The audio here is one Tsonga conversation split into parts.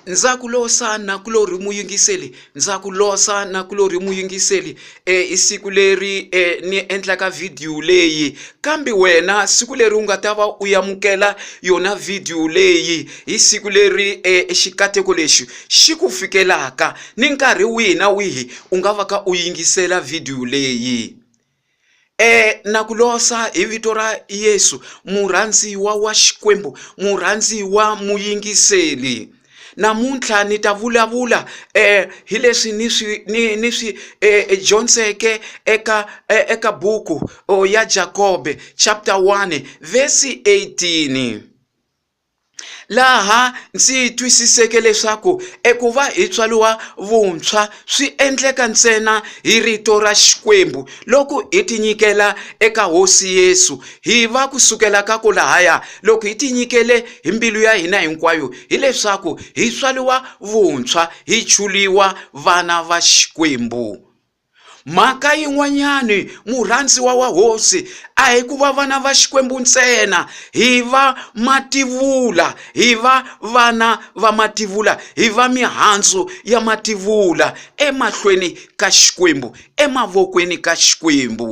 ndza ku losa nakulorhi muyingiseli ndza ku losa nakulorhi muyingiseli e i siku leri e ni endlaka vhidiyo leyi kambe wena siku leri u nga ta va u yamukela yona vhidiyo leyi hi siku leri e xikateko lexi xi ku fikelaka ni nkarhi wihi na wihi u nga va ka u yingisela vhidiyo leyi E na ku losa hi vito ra Yesu murhandziwa wa Xikwembu murhandziwa muyingiseli namuntlha ni ta vulavula eh, hi leswi ni swi ni, ni swi eh, eh dyondzeke eka eh, eka buku oh, ya Jakobe chapter 1 verse 18 laha ndzi twisiseke leswaku eku va hi tswariwa vuntshwa swi endleka ntsena hi rito ra Xikwembu loko hi tinyikela eka Hosi Yesu hi va ku sukela ka ku lahaya loko hi tinyikele hi mbilu ya hina hinkwayo hileswaku hi tswariwa vuntshwa hi chuliwa vana va Xikwembu Mhaka yin'wanyani murhandziwa wa hosi a hi ku va vana va xikwembu ntsena hi va mativula hi va vana va mativula hi va mihandzu ya mativula emahlweni ka xikwembu emavokweni ka xikwembu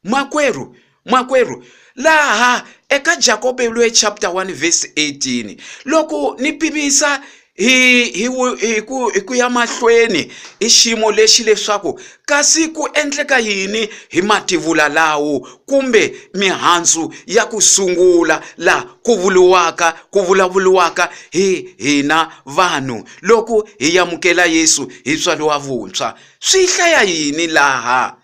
Makwerhu, makwerhu, laha eka Jakobe loyi chapter 1 verse 18, loko ni pimisa hi hi hi ku hi ku ya mahlweni i xiyimo lexi leswaku kasi ku endleka yini hi mativula lawo kumbe mihandzu ya ku sungula laha ku vuriwaka ku vulavuriwaka hi hina vanhu loko hi yamukela Yesu hi tswariwa vuntshwa swi hlaya yini laha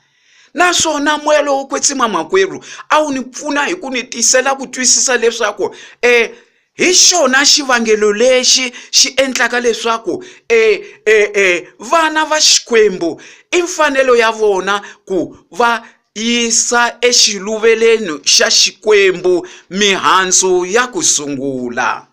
naswona moya lowo kwetsima makwerhu a wu ni pfuna hi ku ni tisela ku twisisa leswaku um e, hi xona xivangelo lexi xi endlaka leswaku um e, e, e, vana va xikwembu i mfanelo ya vona ku va yisa exiluveleni xa xikwembu mihandzu ya ku sungula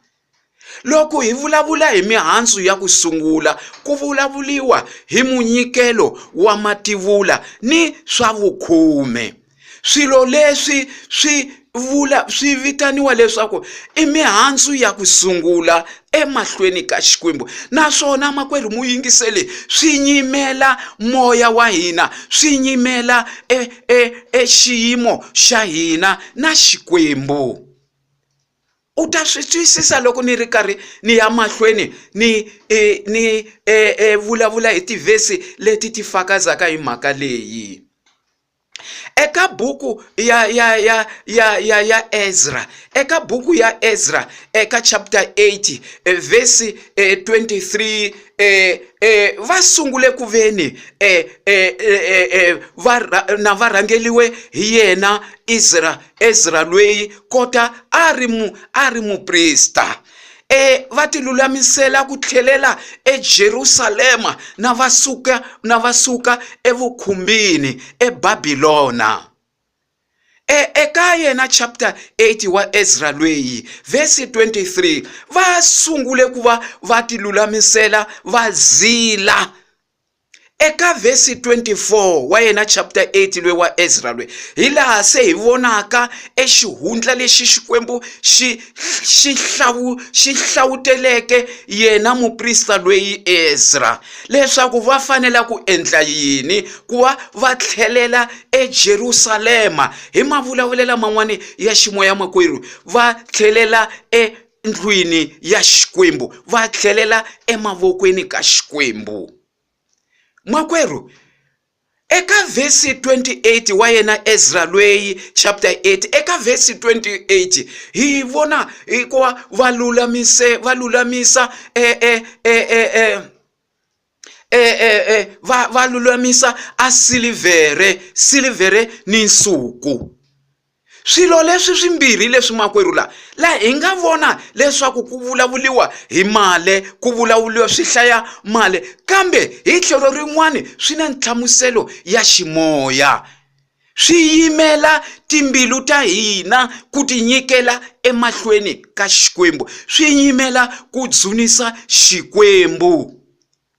Loko hi vulavula hi mihandzu ya ku sungula, ku vulavuliwa hi munyikelo wa mativula ni swa vukhume. Swilo leswi swi vula swi vitaniwa leswaku i mihandzu ya ku sungula emahlweni ka Xikwembu, naswona makwerhu muyingiseli swi nyimela moya wa hina, swi nyimela e, e, e xiyimo xa hina na Xikwembu. u ta swi twisisa loko ni ri karhi ni ya mahlweni ni e, ni e, e, vulavula hi tivhesi leti ti fakazaka hi mhaka leyi eka buku ya ya ya ya ya ya Ezra eka buku ya Ezra eka chapter 8 e, verse 23 eh, eh, va sungule ku veni eh, eh, eh, eh, eh va, na varhangeliwe hi yena Ezra ezra lweyi kota a ri mu a ri muprista e va ti lulamisela ku tlhelela ejerusalema na va suka na va suka evukhumbini ebabilona e eka yena chapter 8 wa ezra lweyi vhesi 23 va sungule ku va va ti lulamisela va zila Eka vhesi 24 wa yena chapter 8 lwe wa Ezra lwe, hi laha se hi vonaka exihundla lexi Xikwembu xi xi hlawu xi hlawuteleke yena muprista lweyi Ezra leswaku va fanela ku endla yini ku va va tlhelela eJerusalema hi mavulavulela man'wana ya ximoya makwerhu va tlhelela e endlwini ya xikwembu va tlhelela emavokweni ka xikwembu makwerhu eka vhesi 28 wa yena ezra lweyi chapter 8 eka vhesi 28 hi vona hikuva va lulamise va lulamisa e, e, e, e, e e, e, e, va, va lulamisa a silivhere silivhere ni nsuku swilo leswi swimbirhi leswi makwerhu la la hi nga vona leswaku ku vulavuriwa hi male ku vulavuriwa swi hlaya male kambe hi tlhelo rin'wani swi na nhlamuselo ya ximoya Swi yimela timbilu ta hina ku tinyikela emahlweni ka Xikwembu, swi yimela ku dzunisa Xikwembu.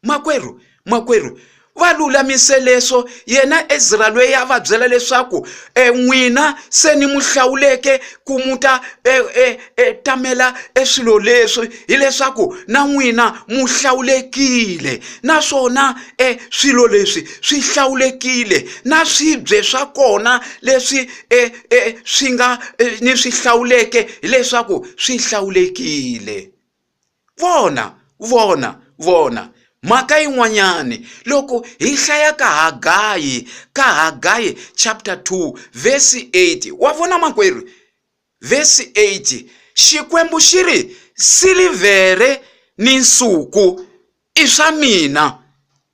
Makwerhu, makwerhu, va lulamise leswo yena ezra loyi a va byela leswaku um n'wina se ni mu hlawuleke ku mu ta um e tamela e swilo leswi hileswaku na n'wina mu hlawulekile naswona e swilo leswi swi hlawulekile na swibye swa kona leswi e e swi nga e, ni swi hlawuleke hileswaku swi hlawulekile vona vona vona mhaka yin'wanyani loko hi hlaya ka hagayi ka hagayi chapter 2 vhesi 8 wa vona makwerhu Vhesi 8, Xikwembu xi ri, Silivhere ni nsuku i swa mina.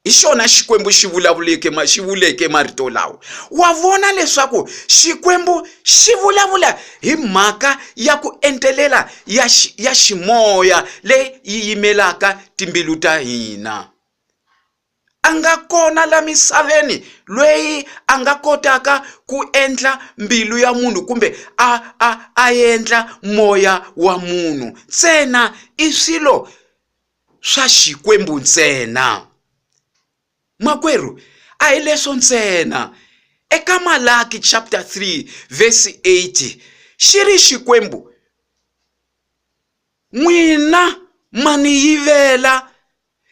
Hi xona Xikwembu xi vulavuleke xi vuleke marito lawa. Wa vona leswaku Xikwembu xi vulavula hi mhaka ya ku entelela ya ya ximoya leyi yi yimelaka timbilu ta hina. a nga kona la misaveni lweyi a nga kotaka ku endla mbilu ya munhu kumbe a a a endla moya wa munhu ntsena i swilo swa xikwembu ntsena makwerhu a hi leswo ntsena eka malaki chapter 3 verse 80 xi ri xikwembu n'wina ma ni yivela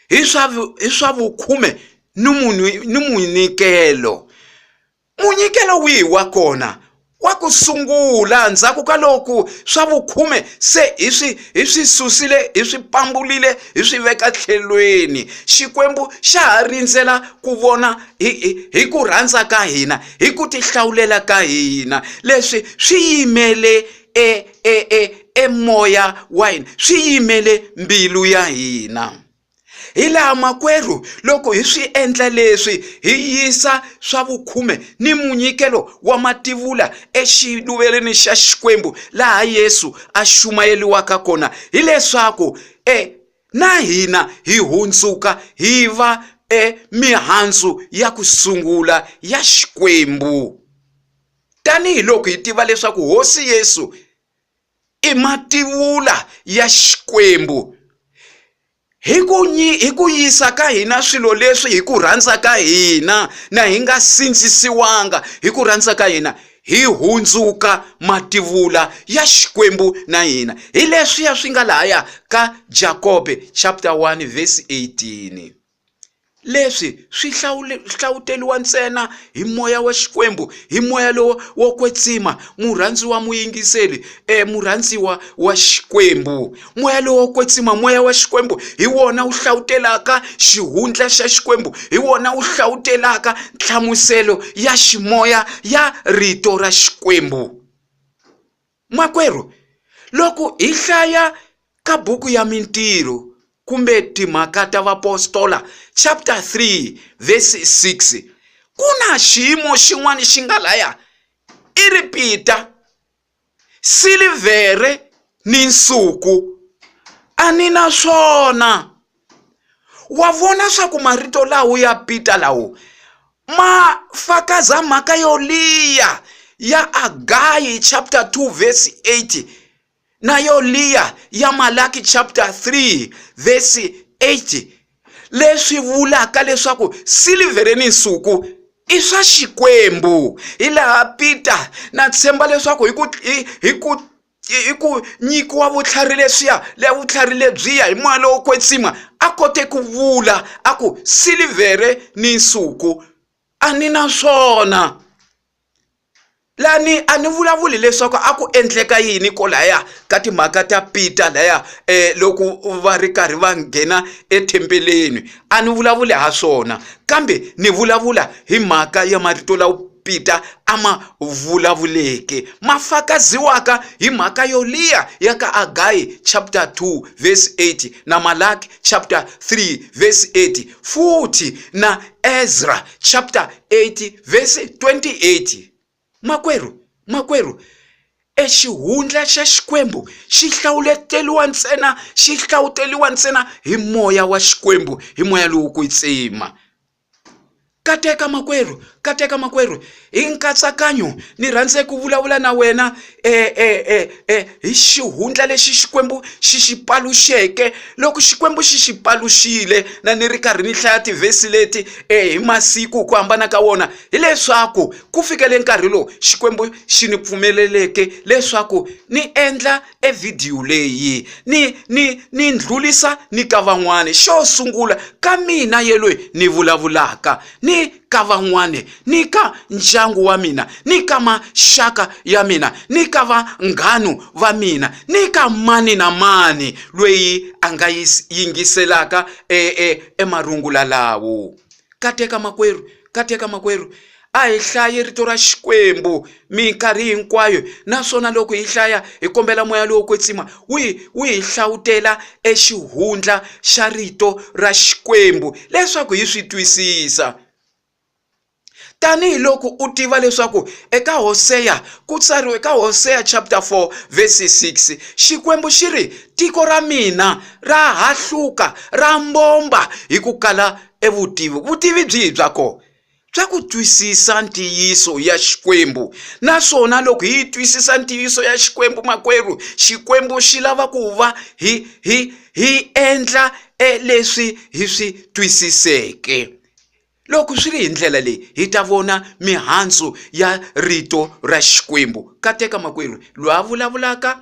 hi swa hi swa vukhume ni munhu ni munyikelo munyikelo wihi wa kona wa ku sungula ndzhaku ka loku swa vukhume se hi swi hi swi susile hi swi pambulile hi swi veka tlhelweni xikwembu xa ha rindzela ku vona hi hi hi ku rhandza ka hina hi ku tihlawulela ka hina leswi swi yimele e, e, e, e moya wa hina swi yimele mbilu ya hina hi laha makwerhu loko hi swi endla leswi hi yisa swa vukhume ni munyikelo wa mativula exiluvelweni xa xikwembu laha yesu a xumayeliwaka kona hileswaku e na hina hi hundzuka hi va emihandzu ya ku sungula ya xikwembu Tanihiloko hi tiva leswaku Hosi Yesu i mativula ya Xikwembu, hi ku, hi ku yisa ka hina swilo leswi hi ku rhandza ka hina na hi nga sindzisiwanga hi ku rhandza ka hina, hi hundzuka mativula ya Xikwembu na hina. Hi leswiya swi nga lahaya ka Jakobe chapter 1 verse 18. leswi swi hlavuteliwa ntsena hi moya wa xikwembu hi moya lowo wo kwetsima murhandziwa muyingiseli e murhandziwa wa xikwembu moya lowo kwetsima moya wa xikwembu hi wona wu hlavutela-ka xihundla xa xikwembu hi wona wu hlavutela-ka nhlamuselo ya ximoya ya rito ra xikwembu Makwerhu, loko hi hlaya ka buku ya Mintirho kumbe Timhaka ta Vaapostola chapter 3 verse 6, ku na xiyimo xin'wana xi nga laya i ripita, silivhere ni nsuku a ni na swona. wa vona swa ku marito lawo ya pita lawo ma fakaza mhaka yo liya ya agayi chapter 2 verse 8 na yo liya ya malaki chapter 3 verse 8 leswi vulaka leswaku silivhere ni nsuku i swa xikwembu hi laha pita na tshemba leswaku hi ku hi ku i ku nyikiwa vutlhari leswiya le vutlhari lebyiya hi moya lowo kwetsima a kote ku vula a ku silivhere ni nsuku a ni na swona lani a ni vulavuli leswaku a ku endleka yini kwalaya ka timhaka ta Peter laya um loko va ri karhi va nghena ethembeleni a ni vulavuli ha swona kambe ni vulavula hi mhaka ya marito lawa. Pita a ma vulavuleke, ma fakaziwaka hi mhaka yo liya ya ka Agayi chapter 2 verse 8 na Malaki chapter 3 verse 8 futhi na Ezra chapter 8 verse 28. Makwerhu, makwerhu, e xihundla xa Xikwembu xi hlawuleteliwa ntsena xi hlawuteliwa ntsena hi moya wa Xikwembu hi moya lowo kwetsima. kateka makwerhu kateka makwerhu hi nkatsakanyo ni rhandze ku vulavula na wena eh, eh, eh, eh, hi xihundla lexi xikwembu xi xi paluxeke loko xikwembu xi xi paluxile na ni ri karhi ni hlaya tivhesi leti eh, hi masiku ku hambana ka wona hileswaku ku fikele nkarhi lowu xikwembu xi ni pfumeleleke leswaku ni endla e vhidiyo leyi ni ni ni ndlulisa ni ka van'wani xo sungula ka mina ye loyi ni vulavulaka ni ka van'wani ni ka ndyangu wa mina ni ka maxaka ya mina ni ka vanghanu va mina ni ka mani na mani loyi a nga yingiselaka e e emarungula lawo kateka makwerhu Katseka makwerhu, a hi hlaye Rito ra Xikwembu minkarhi hinkwayo, naswona loko hi hlaya hi kombela moya lowo kwetsima wu hi wu hi hlawutela exihundla xa Rito ra Xikwembu leswaku hi swi twisisa. Tanihi loko u tiva leswaku eka Hoseya ku tsariwe eka Hoseya chapter 4 verse 6, Xikwembu xi ri, Tiko ra mina ra hahluka, ra mbomba hi ku kala e vutivi vutivi byihi bya kona bya ku twisisa ntiyiso ya xikwembu naswona loko hi twisisa ntiyiso ya xikwembu makwerhu xikwembu xi lava ku va hi hi hi endla e leswi hi swi twisiseke loko swi ri hi ndlela leyi hi ta vona mihandzu ya rito ra xikwembu kateka makwerhu loyi a vulavulaka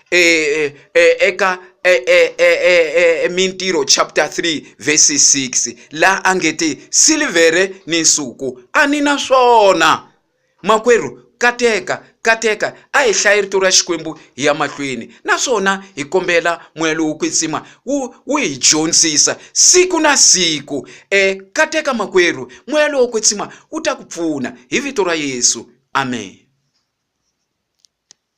eka Mintirho chapter 3 verse 6 laha a nge ti silivhere ni nsuku a ni na swona makwerhu kateka kateka a hi hlaye rito ra xikwembu hi ya mahlweni naswona hi kombela moya lowo kwetsima wu wu hi dyondzisa siku na siku um kateka makwerhu moya lowo kwetsima wu ta ku pfuna hi vito ra yesu amen